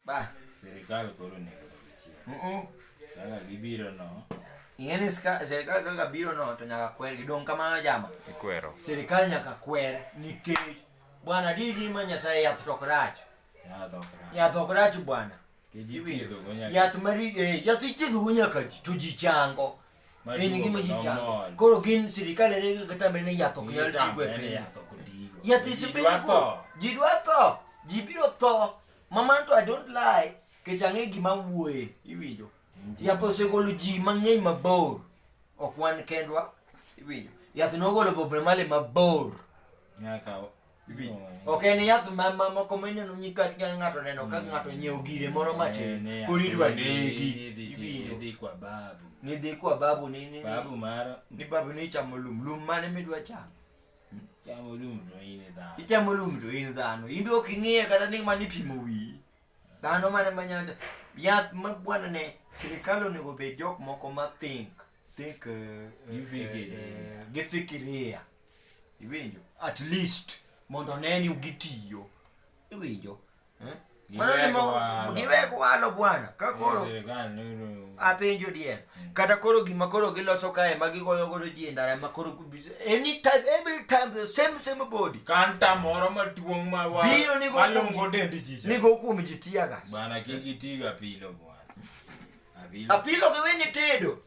Ba. Serikal koro onego odog chien. Mm-mm. Kaka gibiro no, Ing'e ni ska- sirikal kaka biro no to nyaka kwer gidong' kamano jama. Ikwero. Sirikal nyaka kwer nikech bwana didi ma Nyasaye yath tok rach. yath ok rach. Yath ok rach bwana. Kiji Iwinjo? thiedhogo nyaka- Yath mari eh, yath ithiedhogo nyaka ji to ji chango. Ma En duogo gima ji no chango. mol. Koro gin sirikal ere kaka tamre ni yath ok nyal Itang' tigo e bende piny. yath ok otigo. Yath Ji isebedo dwa tho. Ji dwa tho. Ji biro tho. Mama to I don't lie, kech ang'e gima wuoye, iwinjo. Yath osegolo ji mang'eny mabor, ok wan kendwa, iwinjo. Yath nogolo Bob Marley mabor. Nyaka Iwinjo. Ok en yath ma ma- moko mineno ni ka ka ng'ato neno ka ng'ato nyiewo gire moro matin, koro idwa negi, iwinjo. Nidhi kwa babu. Nidhi kwa babu ni ni Babu mara ni babu ni chamo lum, lum mane midwa chamo? Chamo lum to in e dhano. ichamo lum to in dhano in be ok ing'iye kata ni mani pimo wiyi dhano mane manyalo yath ma bwana ne sirikal onego bed jok moko ma think think eh, eh, Gifikiria. eh, gifikiria iwinjo at least mondo one ni gitiyo iwinjo Eh? giwek walo bwana ka koro apenjo diel mm. kata koro gima koro giloso kae ma gigoyo godo ji e ndara ma koro anytime every time the same same body kanta moro maduong' ma wa malongo dendi ji nigo kuom ji tiagas bana kik itiga pilo bwana apilo giwe ni tedo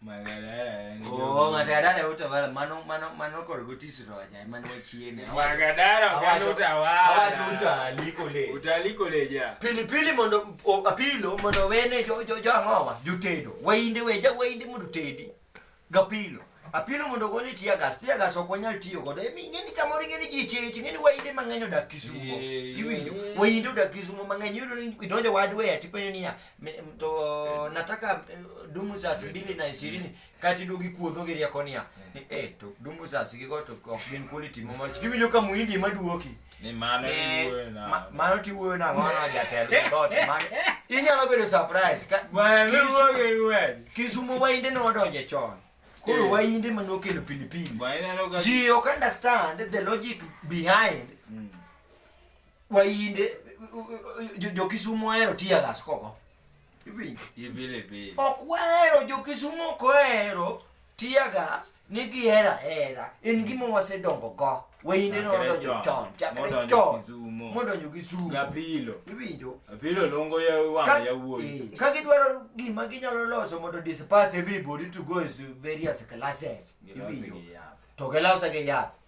Magadara utavala mano mano mano kor gotisiro ajai mano wachiene. Magadara oganda utawala. Awacho utali kole. Utali kole ja. Pili pili mondo apilo mondo wene jo jo jo angowa jutedo. Wainde weja wainde mondo tedi. Gapilo. Apilo mondo goni tiya gas tiya gas ok wanyal tiyo godo. Emi ngeni chamori ngeni ji chich ngeni wainde mang'eny odak Kisumo. Iwinjo. Wainde odak Kisumo mang'eny yudo ni idonjo wadwe atipenyo niya to nataka eh, dumu za sibili na ishirini kati dugi kuodho gi rieko niya ni e eh, to dumu za sigigo to ok gin kuoli timo mach kiwinjo ka muhindi ema duoki ni mano eh, tiwuoyo na ma, mano tiwuoyo na mano jatelo dot mano inyalo bedo surprise ka kisumo wainde ne wadonje chon koro wainde ma nokelo pilipili ji ok understand the logic behind mm. Wayinde jokisumu ohero tiya gas koko. Ok wahero jokisumu ok ohero tiya gas ni gihera hera en gima wasedongo go. Wayinde no odonjo chon chakre chon modonjo gi sumo. Gapilo. Iwinjo? Gapilo longo ya wanga ya wuoyi. Eh, ka gidwaro gima ginyalo loso mondo disperse everybody to go to various classes. Iwinjo? To gilose gi yath.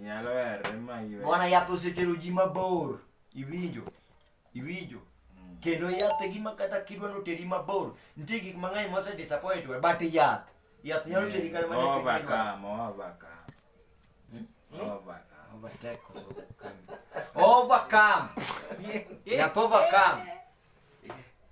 Nyalo werre ma ywe. Bwana yath osetero ji mabor. Iwinjo? Iwinjo? Mm. Kendo yath e gima kata kidwa noteri mabor. Nitie gik mang'eny mose disappoint we, but yath. Yath nyalo teri kata mana e piny midwaro. Overcome, overcome. Hmm? Hmm? Overcome. Overtake or overcome. Overcome. Yath overcome.